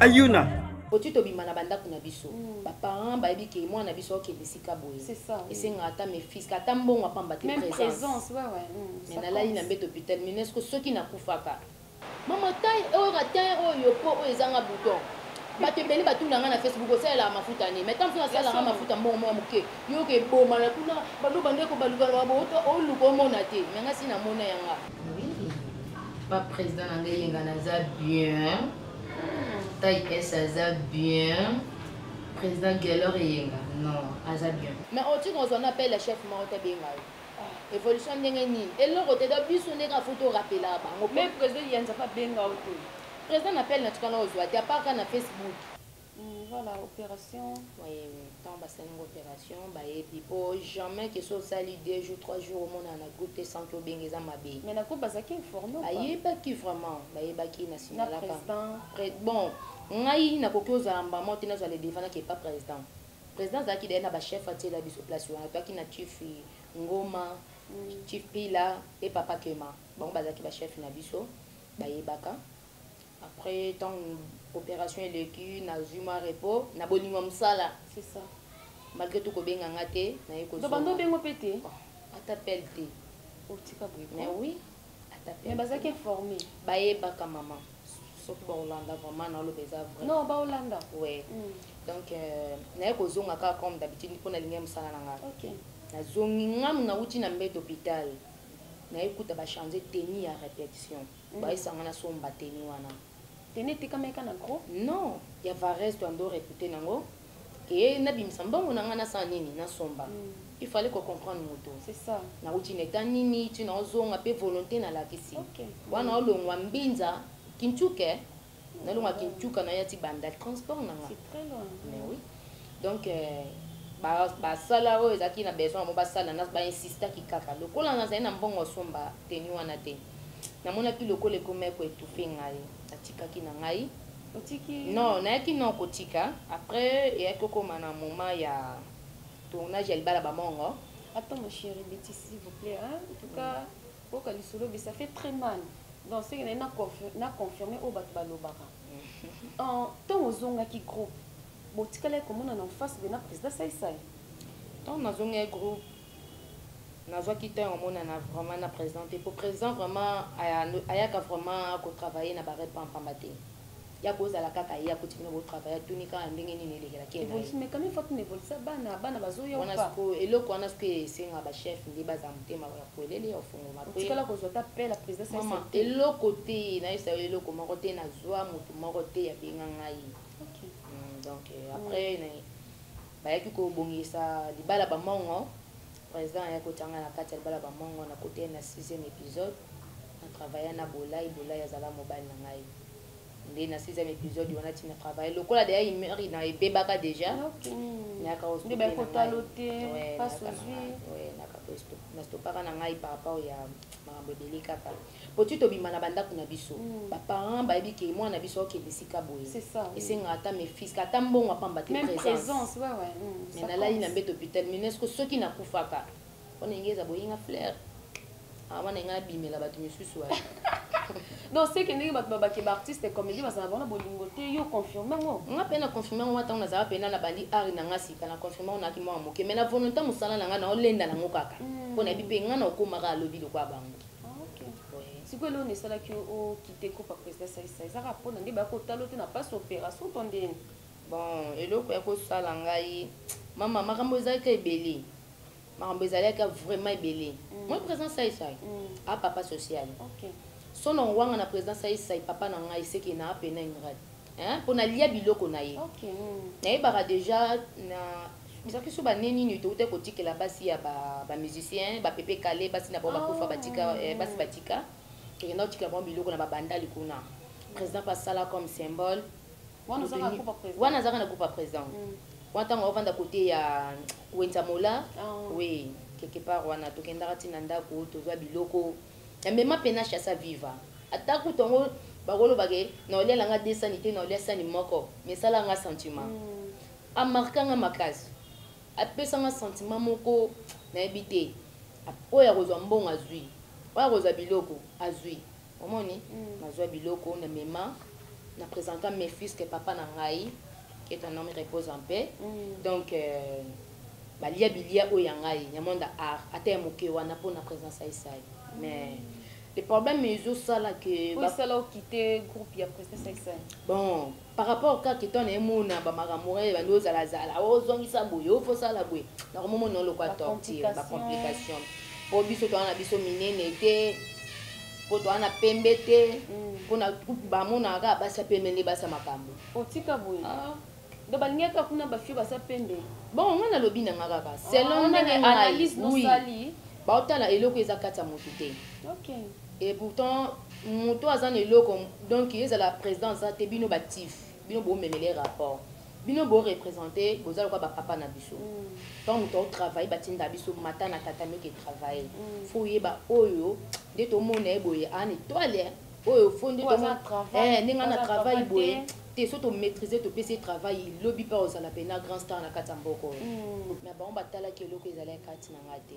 ayuna oti tobima na bandako na biso mm. baparent bayebi ke mwana na biso akende esika boye esengaka ata mefiske ata mbongo apamba te présence mm, me nalali na mbeto hopital minesco soki nakufaka mama tai oyo na tai oyo po oyo ezanga bouton bato ebele batuna ngai na facebook osalelaka mafuta nini mai ntango nasalaka mafuta mbongo mwa moke yoka ebomana kuna baloba ndeko balukalaka boota oluka omona te me ngai si namona yanga baprésident na ngai yenga naza bien taille s aza bien président guelor eyenga non aza bien mais otika ozwa na appel ya chef moko te benga yo évolution ndenge nini eloko te donc biso ndenge afo torapela bango mais président yanza pa benga yo te président na appel na tika na ozwa te apart ka na facebook Hum, voilà opération oui oui tant basali ngo opération bayebi po jamais que so osali deux jours trois jours omonana na groupe te sans que obenga eza mabe mais na groupe bazalaki informe bayebaki vraiment bayebaki na signalaka bon ngai nakoki ozala mbamo te nazwa le devant nake pas président président azalaki daye na bachef atiela biso place wana toyaki na chief ngoma mm. chief pila mpe papa kema bango bazalaki bachef na biso bayebaka après ntango operation eleki nazwi mwa repos na bolingo ya mosala malgré tout kobenga nga te naye kozobanda obengo mpe te oh, ata pele te otika boye mais oui ata pele mais bazalaki informe bayebaka mama soki baolanda vraiment naoloba eza vrai non baolanda ouais mm. donc euh, naye kozonga kaka comme d'habitude mpo nalingi ya mosala na nga okay. nazongi ngamu nauti na mbete hôpital naye kuta bachange teni ya répétition bayisa nga nasomba teni wana teni etekamaki kaka na gros non ya varese to ando repute nango ke nabimisa mbongo na ngai nasala nini nasomba mm. il fallait kocomprendre moto nauti na eta nini ti naozonga mpe volonté nalakisi okay. wana olongwa mbinza kintuke nalonga kintuka na yati banda transport na nga mais oui donc euh, basala oyo ezalaki na besoin yango basala bainsistaki kaka lokola nazali na mbongo osomba teni wana te namonaki lokola ekomi eko etufe ngai natikaki na ngai non nayaki non kotika après eyaki kokoma na moment ya tournage ya libala bamongo Attends, mon chéri, Betty, s'il vous plaît. Hein? En tout cas, Boyoka lisolo be ça fait très mal. Donc ce que na na confirmer oyo bato balobaka. En tant ozongaki groupe botikalaki komona na face be na président Saisai. Tant nazongaki groupe nazwaki temps ya komonana vraiment na président te po président vraiment ayaka vraiment kotravaille na barepa mpamba te ya kozala kaka ye akuti bino botravaille atuni kaka ndenge nini elekelaki evolution mais quand même faut evolution bana bana bazoya wana siko eloko wana siko esenga ba chef nde baza motema ya kuelele ya ofungoma po tikala kozwa ta pe la présidence mama eloko te na yesa eloko moko te na zwa moto moko te ya benga ngai okay. mm, donc euh, après mm. bayaki kobongisa libala bamongo président ayaki kotanga na kati ya libala bamongo na kote na 6e épisode na travailla na bolai bolai azala mobali na ngai nde na sixième episode wana ti na travaille lokola deja imeri na ebebaka deja nayaka nastopaka na ngai par rapport ya makambo ebele kaka po ti tobima na bandako na biso mm. baparent bayebi ke mwana na biso akokende esika boye esengaka ata mefise ata mbongo apamba te présence me nalali na mbeto hôpital minesco soki nakufaka wana inge eza boyinga flair awa na inga abimela bato misusu wapi donc seke ndenge bato babake baartiste comédie bazala bona bolingo te yo confirme ngo nga mpe na confirme yango ntango nazala mpena na bandi ari na nga sika na confirme yango nayaki mwana moke mai na volonté mosala na nga na olenda nango kaka hmm. mpo nayebi mpe nga na okomaka alobi lokola bango ah, sikoyo eloko nesalaki okite kopa président saisa ezaka mpona nde baya kotalo te na pasi opération to ndeni bon eloko ya kosala ngai mama makambo ezalaki ebele makambo ezalaki vraiment ebele mm. moi président saisai mm. a ah, papa social okay. sono ngwanga na président saisai papa na ngai seke na apena ingrat mpo nalia biloko na ye okay. mm. nayebaka déjà na bizalaki so bane nini touta kotikela basi ya bamusicien ba bapepe kale basi na bango ah. bakufa batika eh, basi batika tokenda kotikela bango biloko na babandali kuna président mpe asala comme symbole wana ozaka na groupe président wana azaka na groupe président mm. wana tango avanda côté ya Wenza Mola oh. oui quelque part wana tokendaka ti na ndako tozwa biloko ya mema pena chasa viva ata kutu yango bakoloba ke na olia langa 2 sani te na olia sani moko mais sala nga sentiment mm. amarka nga makasi apesa nga sentiment moko nayebi te oyo akozwa mbongo azwi oyo akozwa biloko azwi Omoni? Nazua biloko, na mema, na presenta Mephus que papa na ngai, que ton ame repose en paix. Donc, euh, balia bilia oyo ya ngai, ya monde art, ata ya moke wana, po na presence ya Isai. Mais, le problème ezo sala que. Oyo esala okite groupe ya presence ya Isai? Bon. Par rapport kaka ke toi na ye mona ba makambo wana ebandi ozala zala o zongisa boye o faut sala boye na ko momo nolo kwa torture ba complication po biso toana na biso minene te po toana na pembe te mm. po na ba mona kaka basi ya pembe nde basi ya makambo otika boye ah. donc balingi kaka kuna ba fio basi ya pembe bon nga na lobi na nga kaka selon ah, ndenge ngai oui baotala eloko eza kati ya motu te okay. Et pourtant mutu aza na eloko donc ezala president aza te bino ba tif bino bo memele rapport bino bo represente boza lokola ba papa na biso tant mutu au travailler ba tinda biso mata na tatami oke travailler faut yeba oyo nde to mona ye boye an etoile oyo faut nde to mona eh nde nga na travail boye te so to maîtriser to pesi travail lobi pa ozala pena grand star na kati ya mboko na bango ba talaki eloko ezala kati na nga te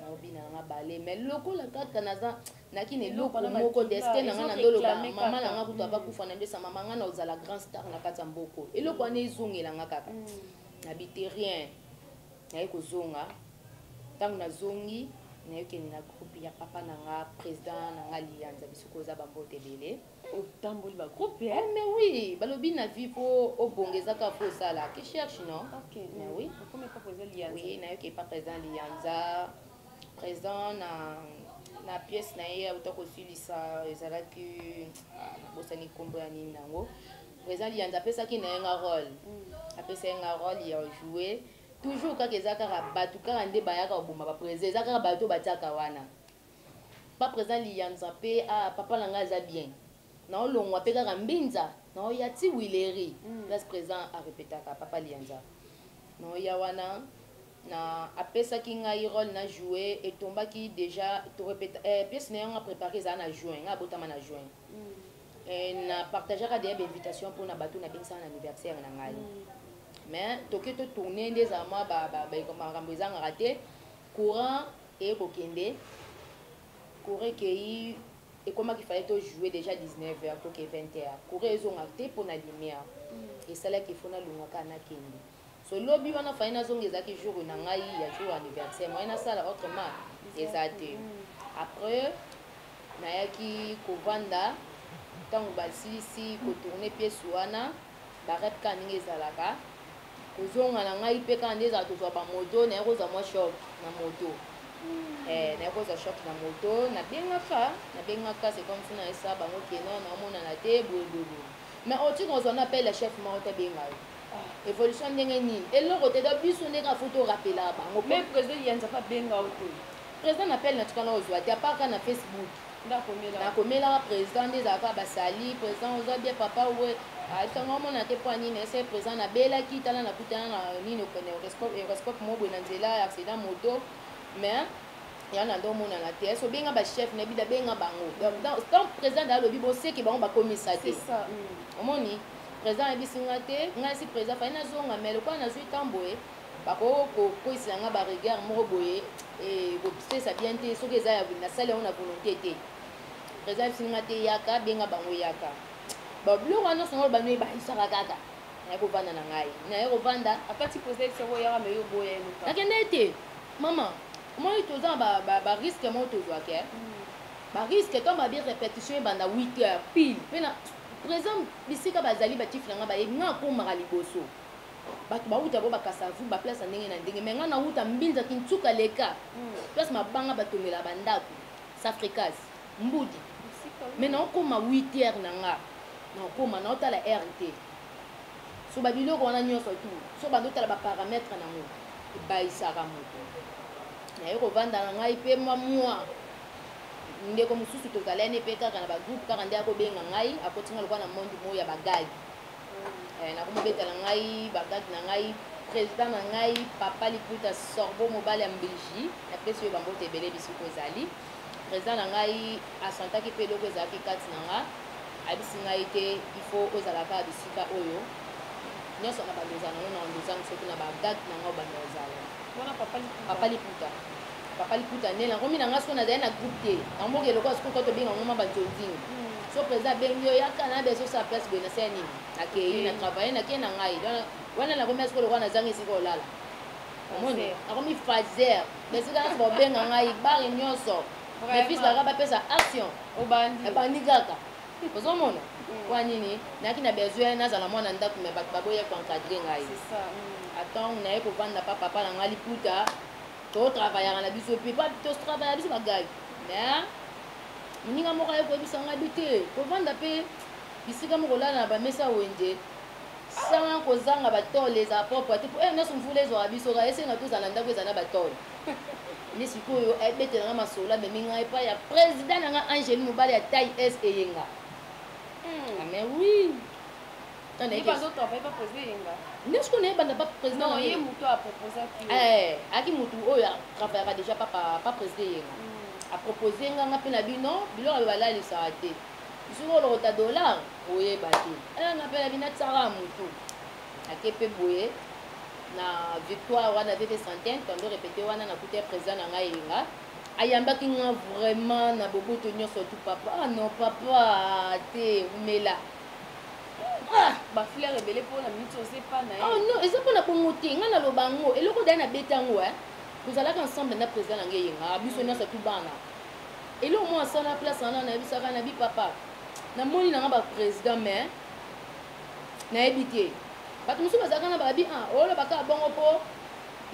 naobi na nga bale mais lokola kaka naza naki na eloko moko destin na nga na ndoloba mama na nga kutu aba mm. kufa na ndesa mama nga na ozala grand star na kati ya mboko eloko wana ezongela nga kaka mm. nabite rien naye kozonga ntango nazongi nayokende na groupe ya papa na nga président na nga liyanza biso koza bambote ebele otamboli ba groupe eh? eh, mais oui balobi na vie po obonga eza kaka po osala ki cherche non okay, mais oui okomi papa eza liyanza oui nayoki papa eza liyanza présent na na pièce na ye auta kosilisa ezalaki ah, nabosani nkombo ya nini yango présent liyanza apesaki na ye nga role mm. apesa ye nga role ya joue toujours kaka eza kaka bato kaka nde bayaka koboma bapresa eza kaka bato batiaka wana Pa president liyanza pe ah papa na nga aza bien nao longwa pe kaka mbinza nao ya tiwileri place president a repetaka papa liyanza nao ya wana na apesaki ngai role na joue etombaki deja to repeta eh pièce nayo nga prepare eza na juin nga abotama na juin eh na partageaka deja ba invitation pona batu na bengisaka na anniversaire na ngai mais toke to tourner nde eza mwa ba ba makambo ezangaka te courant eye kokende cour ekeyi ekomaki faye to joue déjà 19 heures toke 20 heures cour ezonga te mpo na lumière mm. esalaki efo nalongwa kaka nakende so lobi wana faye nazonga ezalaki jour na ngai ya jour anniversaire moye nasala autrement eza te mm. après nayaki kovanda ntango basilisi kotourne pièce wana Barrette kaka ndenge ezalaka kozonga na ngai mpe kaka nde ezala tozwa bamoto naye kozwa mwa shop na moto hmm. eh, naye kozwa shop na moto nabengaka nabengaka c'est comme si nayesa bango keno naomonana te boyeboyebo mais oti kozwa na appel ya chef moko tabenga yo ah. évolution ndenge nini eloko te donc biso ndenge afo torapela bango mais président yanza abenga yo te président na appel natikana kozwa te apart kaka na facebook nakomelaka président nde ezalaka basali président oza bien papa we asango omona te mpo nini ese président nabelaki tala nakutana na nini okende horoscope moko boye na nzela ya accident moto mais ya na ndo omonana te ese obenga bachef na bida benga bango tant président da alobi boseki bango bakomisa te omoni président ayebisi nga te ngai si président fai nazonga mais lokola nazwi ntan boye bako ko kwesela nga ba regard moko boye et ko pesa bien te soki eza ya na sali yango na volonté te président fsini nga te yaka benga bango yaka ba biloko wana songo ba noye ba isaka kaka na ko vanda na ngai na ye ko vanda apati poser soko yaka me yo boya yo ka nakende te mama moi toza ba ba, ba risque mo tozwa ke mm. ba risque to ba bi répétition banda 8 heures pile pe na présent bisika bazali ba tifina nga ba ye nga ko mara liboso bato bawuta bo bakasavu ba place ya ndenge na ndenge me ngai nawuta mbinza kinsuka leka hmm. place mabanga batongela bandako safricas mbudi me naokoma 8 heure na nga naokoma naotala r te so babiloko wana nyonso tu so bando otala baparametre nango ebayisaka moto naye kovanda na ngai mpe mwa mwa ndeko mosusu tozalani mpe kaka na bagroupe kaka nde akobenga ngai akotinga lokola na monde moya bagagi eh, nakomobeta na ngai bagage na ngai président na ngai papa liputa sorbo mobali ya mbiji napesi oyo bambote ebele bisuku ezali président na ngai asantaki mpe eloko ezalaki kati na nga ayebisi ngai te il faut ozala kaka bisika oyo nyonso na bando ozala nango na bando ozangi soki na bagage na ngai obanda ozala papa liputa papa liputa nde na komi na nga siko nazali na groupe te yango mboka eloko siko koto benga ngo maba nzonzini hmm. so président abengi yo yaka na beso sa place boye nasala nini nakei na travaille nakei na ngai donc wana nakomi asiko lokola nazangi esika olala omoni nakomi fazer esika nyonso baobenga ngai bare nyonso mes fils baka bapesa action ebandi kaka ozomona hmm. kwa nini nayaki na besoin nazala mwana ndako me bato baboya koencadre ngai atango hmm. naye kovanda pa papa na ngai liputa to travaillaka na biso mpe ba to travaillaka biso bagai mais moninga moko aye koyebisa ngai bi te kovanda mpe bisika moko olala na bamesa wenze sans kozanga batole ezala propre te mpo eye eh, nyonso mvula ezwaka biso kaka esenga tozala ndako ezala na batole nde sikoyo ebetela ngai masolo amemi ngai epai ya président na ngai angeli mobali ya tai s eyenga hmm. ah, mais oui nde sikoyo naye banda président ayaki motu oyo travaillaka déjà pa président eyenga hmm. apropose nga nga mpe na bino biloko ayo balalisaka te sikoyo olokota dollar oyeba te eh, nga mpe na bino atisaka motu ake mpe boye na victoire wana vete centaine tondo repete wana nakuti ya président na ngai eyenga ayambaki nga vraiment na boboto nyonso tu papa ah non papa te umela Ah! ba fleur ebele mpo na minute oza epa na ye oh non eza mpo na bongo te ngai naloba yango eloko daya nabeta yango e tozalaka ensemble na président na ngai eyenga ah, biso nyonso tu bana eloko mwa asala na place wana nayebisaka na bi papa namoni nanga baprésident mais nayebi te bato mosusu bazalaka na babi a ah, olobaka bongo mpo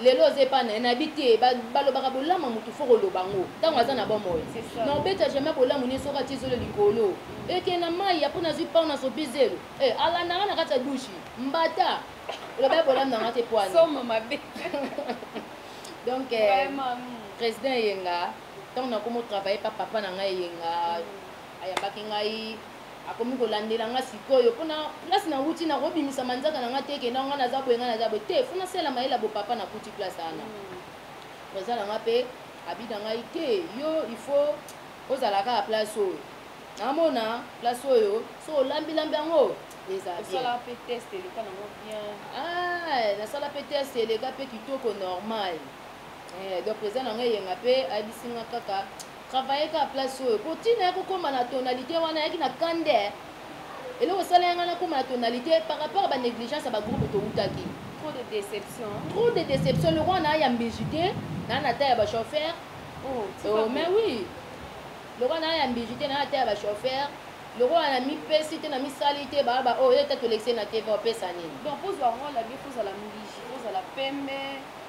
lelo oza epa naye nayebi te balobaka bolamu ya motu foko oloba yango ntango aza na bomoi na obeta jamai bolamu nie soki atie zolo likolo eke na mai apo nazwi pao na sopi zelo e eh, alandanga na kati ya dushi mbata oloba ya bolamu nanga te poani donc eh, président eyenga ntango nakomi otravaille pa papa na ngai eyenga mm. ayambaki ngai akomi kolandela nga sikoyo mpo na place na wuti na kobimisa manzaka na nga te kenda nga naza boye nga naza boye te fo nasala mayele ya bopapa na kuti place ana oza na nga mpe abi na ngai te yo il faut ozala kaka place oyo namona place oyo so olambilambi yango eza biensala mpe test eleka nango bien ah, nasala mpe test eleka mpe kitoko normal eh, donc eza na ngai eyenga mpe ayebisi nga kaka travailler kaka place oyo po tina ya kokoma na tonalité wana yaki na kande eloko esala yanga nakoma na tonalité par rapport ba négligence ya ba groupe towutaki trop de déception trop de déception lokola naa ya mbiji te naa na ta ya ba chauffeur oh, oh mais oui lokola naa ya mbiji te naa na ta ya ba chauffeur lokola na mipesi te na misali te baa ba oyo oh, ye ta tolekise na tv opesa nini donc ozwa role ya bifo ozala mbiji ozala pembe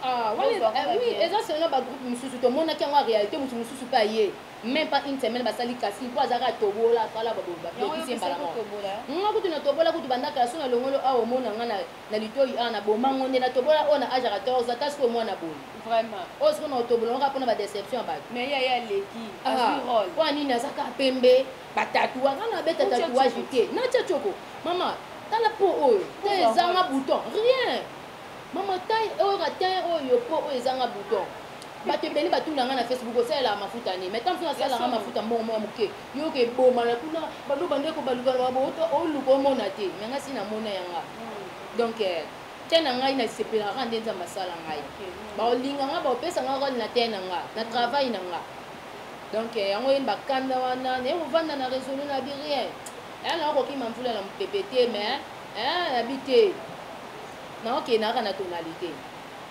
Ah, wana Bozwa eza- yango oui, bien. eza selon ba groupe mosusu tomonaki yango ya réalité moto mosusu mpe aye même pas une semaine basali kasi mpo azalaka atobola asala Yango yo bapekisi ye mbala opesaki moko kotobola, hein? nga kutu natobola kutu bandaka ya so na longolo awa omona nga na- na litoi awa na bomango nde natobola oyo na age ya 14 ata sikoyo mwana boye Vraiment. oyo sikoyo na otobola ngaka mpona badeception ya bato Mais yaya aleki. Ah, Azwi rôle. mpo ya nini azaka pembe batatua nga nabeta Utia tatouage tshoko. te natia choko mama tala po oyo te Uza ezanga bouton rien Maman taille oyo ka teint oyo po oyo ezanga bouton. Bato ebele batuna nga na Facebook osalelaka mafuta nini? Mais tango mosusu nasalelaka mafuta mbongo mwa moke. Yo ke boma na kuna balo bande ko baluka na babo oluka omona te. Mais nga si na mona ya nga. Donc eh, teint na ngai na sepelaka nde Nzambe asala ngai. Ba olinga nga ba opesa nga role na teint na nga, na travail na nga. Donc eh, yango yeni ba kanda wana, ne ovanda na resolu na bi rien. Eh na okokima mvula na mpepe te mais eh na bi te. naokende kaka na tonalité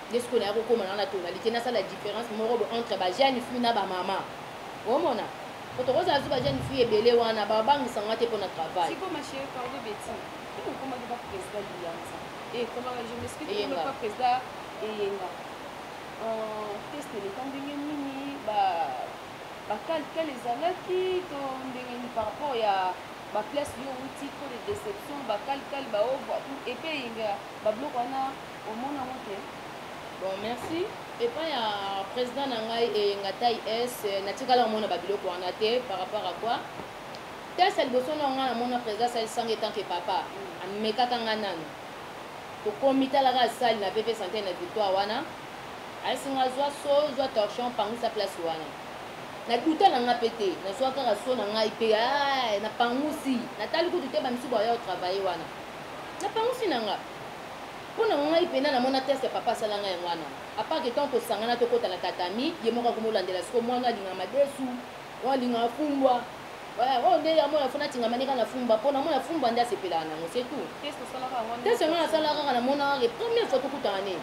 nde sikoyo naya kokoma nanga na tonalité nasala différence moko bo entre ba jeune fille na bamama omona po tokozala zu ba jeune fille ebele wana babangisa nga te mpo na travail eyenga teste leta ndenge nini bakale ezalaki to ndenge nini par rapport ya ba place yo outi trop de deception ba kali kali ba ovo tout et puis yenga ba bloc wana omona ngo te bon merci epai ya président na ngai eyenga eh, tai s natikala komona babiloko wana te par rapport à quoi test ya liboso na ngai namona président asalisanga etant ke papa amekaka ngai nano tokomi talaka asali na pp santai na victoire wana ayesi ngai zwa so zwa torchon pangisa place wana na duta na nga pe te nazwa kaka so na ngai pe ah, na pangusi natali kutu te bamisusu baya otravaille wana na pangusi na nga mpo na ngai mpena namona test ya papa asala ngai yango wana apart que ntango tosangana tokota na tatami ye moko akomi olandela siko mwana alinga madesu oyo alinga afumbwa oyo nde yango na fona atingama ndeka na fumba mpo na mona fumba nde asepelaka nango se tout test yango nasalaka kaka namonaka ke première fois tokutana ne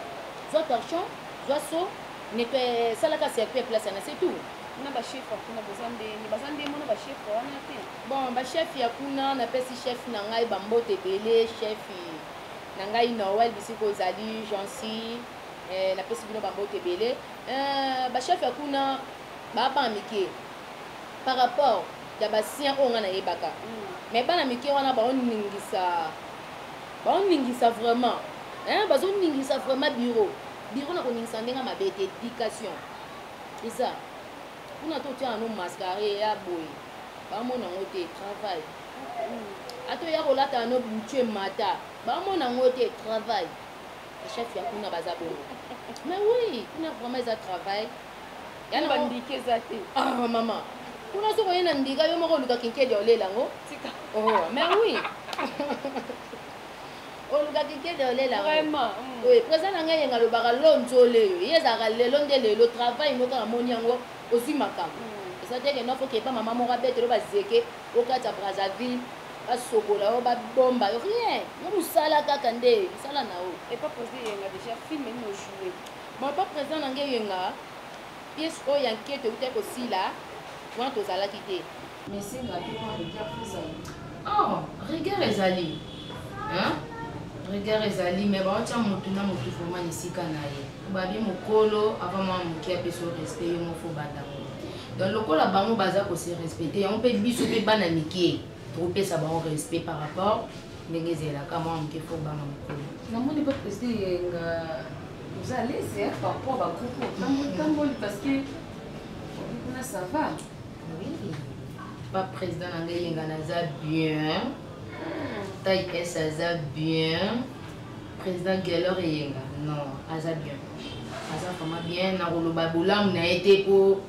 zwa torchon zwa so Nettoyer, salaka circuit place yana, c'est tout. na bachef ya kuna boza ndenge baza ndenge mona bachef wana te bon bachef ya kuna napesi chef na ngai bambote ebele chef na ngai noel bisika ozali jansi eh, napesi bino bambote ebele eh, bachef ya kuna babana mike par rapport ya basien oyo ngai nayebaka mm. mais bana mike wana baoningisa baoningisa vraiment eh, bazoningisa vraiment bureau biro na koningisa ndenge mabe te education eza kuna to tia no mascare ya boye bamona yango te travail ata oya kolata no butie mata bamona yango te travail chef ya kuna baza bongo mais oui kuna vraiment eza travail bandike eza te ah, mama kuna soki oye na ndika yo moko oluka kinkedi olela yango oh, mais oui olukaki kende olela vraiment mm. oui président na ngai yenga alobaka lo nzole yo ye ezalaka lelo nde lelo travail moko kaka moni yango ozwi makambo mm. eza te kende ofoka epa mama moko abetelo bazeke okati ya brazzaville basokola yo babomba yo rien yo mosala kaka nde mosala na yo epa président yenga déjà film nini ojoue bapa président na ngai yenga pièce oyo ya nkete eutai kosila wana tozalaki te Mais c'est la plus grande guerre que ça. Oh, rigueur ezali. Hein? Rigueur ezali, mais ba tia mutu na mutu vraiment esika na ye. Babi mukolo avant moi muki a peso respect yo mofo banda. Donc lokola bango baza ko se respecter, on peut biso pe bana miki. Topesa bango respect par rapport ndenge ezelaka mwa moke fo banga mokolo namoni mpe preside yenga oza alese par rapport bagroupe otamboli parce que kuna ça va pa président na ngai yenga naza bien tai s aza bien président gelor eyenga non aza bien aza vraiment bien nakoloba bolamu na ye te mpo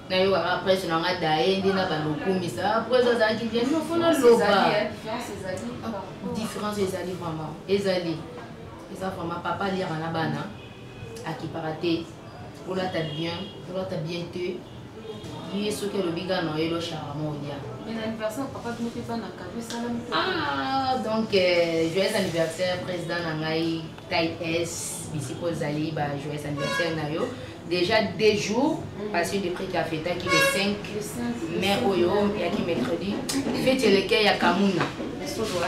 nayokaka presse na nga daye nde na balokumisa presse azalaki bien nofo naloba différence ezali vraiment ezali eza vraiment papa aliaka na bana akipaka te olata bien olata bien te ye soki alobi kaka na oyelo charama olia ah, donc euh, joyeux anniversaire président na ngai tai s bisika ozali ba joyeux anniversaire na yo déjà deux jours mm. parce que depuis ka fetaki le 5 mai oyo yaki mercredi feti elekei ya kamuna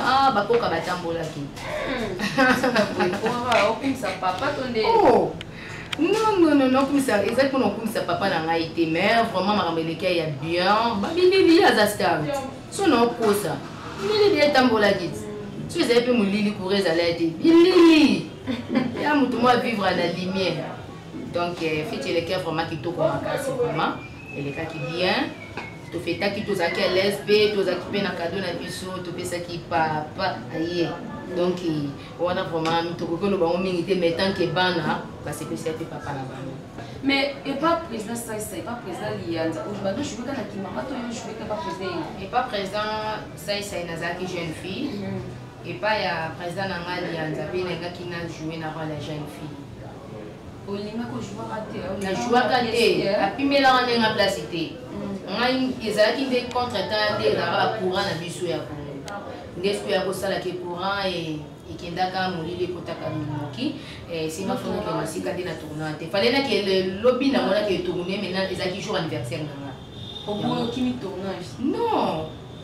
ah, bakoka batambolaki okumisa papa to nde oh. non non non okumisa ezali mpona okumisa papa na ngai te mais vraiment makambo elekya ya bien babindeli ye aza star so na okosa milili etambolaki ti so ezali mpe molili kura ezalaki te bilili ya moto mwa vivre na lumière donc euh, feti elekya vraiment kitoko makasi vraiment elekaki bien tofetaki tozalaki à l'aise mpe tozalaki mpe na kado na biso topesaki papa aye donc wana vraiment tokoki oloba yango mingi te mais tant que bana basepesaki mpe papa na bango mais epa président saisa epa président liyanza oloba no joueka na kimama to yo joueka epa président ye epa président saisa nazalaki jeune fille epa ya président na ngai liyanza mpe nalingaki na joue na role ya jeune fille na jouaka te apimelaka nde nga place te mm. ngai ezalaki nde contre temps ya nde ezalaka bacourant na biso ya kongo nde soki ya kosala ke courant e, ekendaka molili ekotaka moki nsima e, fondoke masika nde na tournoi te fale nake lobi namonaki etourne maintenant ezalaki jour anniversaire na nga oboloki mi tournage non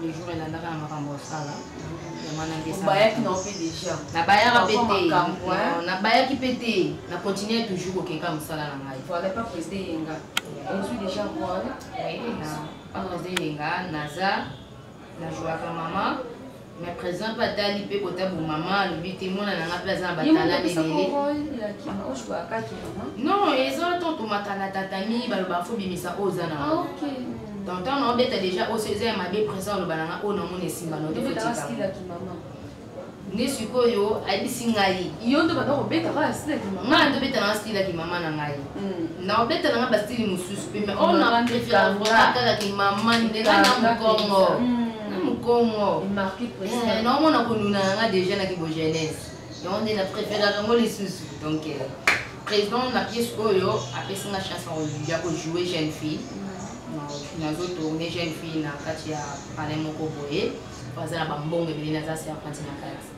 le jour elandaka na makambo osala obayaki na mpe deja nabayaka mpe te nabayaki mpe te na continue toujours kokeka mosala na ngai voilà pas président yenga ozwi deja role pas président yenga naza na jouaka mama na présent mpe atali mpe kotabu mama alobi te mwana na nga mpe aza na batala ebele non eza to tomatana tatami baloba fo bimisa oyo oza na ah, tonton na obeta deja oso eza ya mabe présent oloba na nga oyo namona esimba no nde sikoyo ayebisi ngai yo nde banda kobeta kaka stile kimama ngai nde obeta nanga stile ya kimama na ngai hmm. na obeta nanga bastile mosusu mpe mais oyo na prefera vraimen kaka kimama nde ngai na mokongo hmm. na mokongo eh, naomona konuna na ngai deja na kibogenese yango nde na préféraka yango lisusu donc euh, président na pièce oyo apesi nga chance ya kojoue jeune fille nazo tourne jeune fille na kati ya palais moko boye baza na bambongo ebele naza serpenti na kati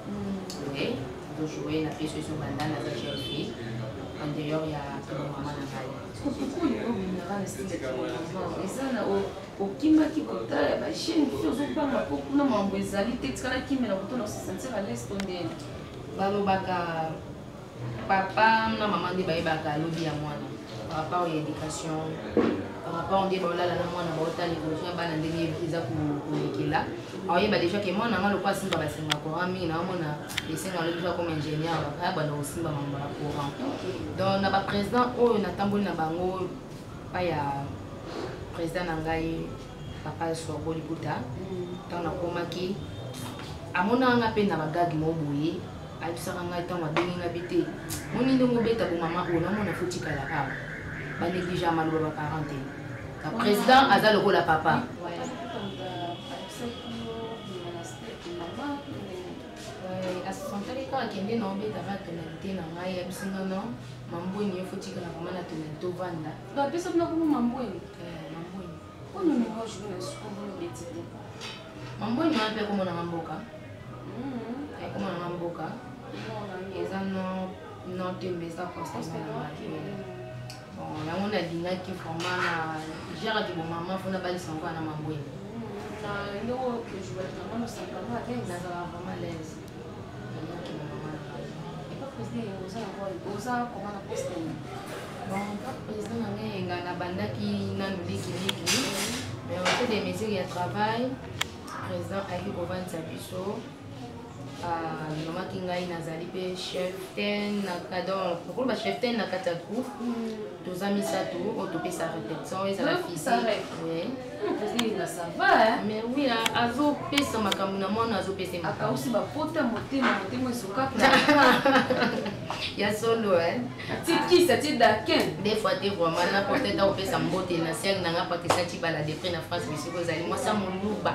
oye tojoue na pièce oyo ezobanda naza jeune fille en dehors ya mama na ngai okimaki kotala ya bachaine oyo ozobanga mpo kuna mambo ezali te tikala kimela kuto na osesentir ales to nde balobaka papa na mama nde bayebaka alobi ya mwana par rapport ya éducation par rapport nde baolala na mwana baotala évolution ya bana ndenge eza kolekela aoyeba déjà ke mwana yanga lokola asimba basenga courant mingi naomona esenga alobi za comme ingénieur baya banda kosimba mambo ya courant donc na baprésident oyo natamboli na bango epai ya président na ngai papa sorbo libuta ntango nakomaki amonaka nga mpe na bagage mo boye ayebisaka ngai ntango abengi nga bi te moni ndenge obeta bomama oyo namona fotikala awa banegligea maloba baparent te ka président aza lokola papa Euh, asantoli kaka kende na obeta ba tonalité na ngai yebisi nga no mambweni ye fotikala vraimen na tonalité ovanda bapesa bino kumu mambweni euh, mambweni oyo numéro jour na sukulu beti te mambweni wana mpe akomona nga mboka mm-hmm. akomona nga mboka eza no no tembe eza constance na ngai Bon, yango nalingaki vraiment na geraki bomama mpo nabalisa yango na mabwele na eloko ojouaki yango mosakamo ata nazalaka vraiment laise président na ngai enga nabandaki nanu likiliki mais ote de mesure ya travail président ayaki kovanisa biso alobamaki ah, ngai nazali mpe cheftain nakadon okoloba cheftain na kati ya groupe hmm. toza misato oyo topesa repetition ezala physiquemais wi azopesa makambo na mwana azopesa akausi bapota motema motema ezokaka ya solo tikisa ti dakin des fois te vraiment na porte ta kopesa mbote na siangi na nga pakisa cibala depre na france bisiko ezali mwasi ya moluba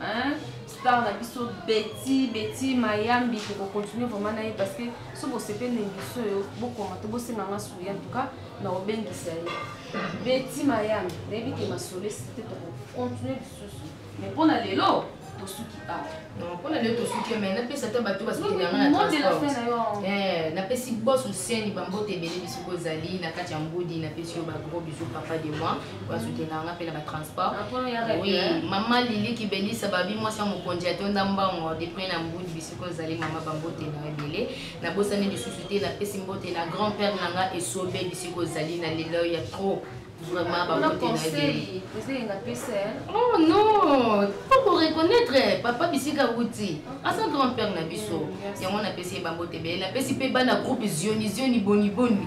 hein star na biso beti beti mayambi tokocontinue vraiment na ye parce que so bosepeli na émission oyo bokoma to bosenga nga suri en tout cas na obengisa ye beti mayambi nayebi ke masolesi te tokocontinue lisusu mais mpo na lelo tosuki awa ah. mpona lelo tosuki mai napesa ata bato basokinaapesi eh, bos osiani bambote ebele bisoko ezali na kati ya ngudi napesi yo bagros bisu papa de moi bazutela nga mpe na batransport ah, oui mama lili kibelisa babi mwasi ya mokonzi atonda mbongo depres na mbudi bisiko ozali mama bambote na ebele nabosani lisusu te napesi mbote na grand père na nga esobe bisiko ozali na lelo ya trop vraiment bambote na ebele oh non po koreconnaitre papa bisika wuti aza grand père na biso mm, yango napesi ye bambote ebele napesi mpe bana groupe zioni zioni boniboni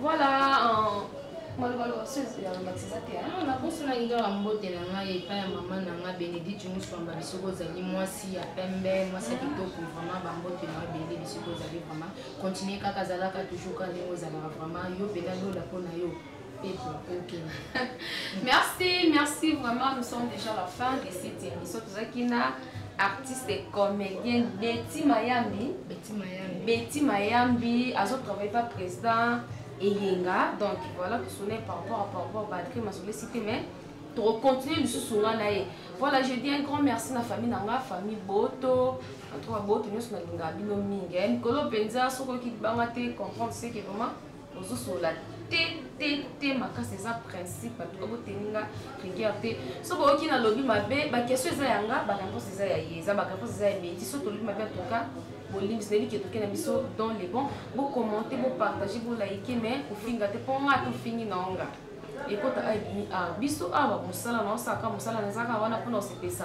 Voilà, euh, maloba loba soki ya lobakisa eza te. Ah, na poso na ngai mbote na ngai epai ya mama na ngai Benedicte Muswamba bisoko ozali mwasi ya pembe, mwasi ya kitoko vraiment ba mbote na ebele bisoko ozali vraiment continuer kaka zalaka toujours kaka ndenge ozalaka vraiment yo pena lola mpo na yo Merci, merci vraiment. Nous sommes déjà à la fin de cette émission. artiste et comédien Betty Mayambi Betty Mayambi Betty Mayambi azo travailler pas président eyenga donc voilà tosone par rapport à par rapport badri masole cité mais tokocontinue lisusu nga na ye voilà je dis un grand merci na famille na nga famille boto antoka boto nyonso nalingaka bino mingi mikolo mpenza soki oyoki libanga te comprendre seke vraiment ozosolola te te te makasi eza principe bato baboteli nga rigueur te soki oyoki nalobi mabe bakestion eza ya nga bareponse eza ya ye eza bareponse eza ya beti soki tolobi mabe atoka bolimbisi nayebi ke toke na biso dans le bon bocommente bopartage bolaike mais kofinga te mpo nga tofingi na onga ekota awa biso awa mosala na osaka mosala na ezaka wana mpona osepesa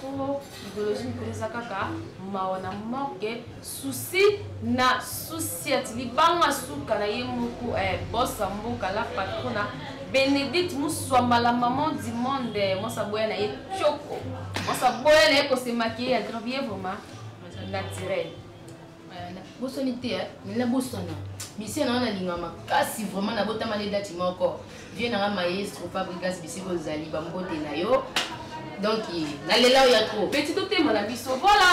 po idéologie mikolo eza kaka mawa na morgue susi na susiet libanga suka na ye moko eh, bosa mboka la patrona benedicte muswamba la maman du monde eh, mwasa boya na ye tioko mwasa boya na ye kosemakiye ya gravier vraiment naturel bosoni te eh? na bosana misie na nga nalinga makasi vraiment nabotama nde dati moko vie na nga maestro fabrigas bisika ozali bambote na yo donc nalela oyo ya trop peti totema na biso voilà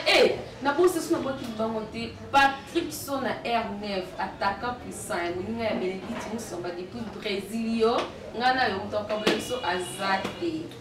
e eh, eh, nabosi so nabwaki libango te patrick so na r9 attaquant puissant ya moninga ya benedicte mosomba depuis brésil yo ngai na yo moto akabla biso aza te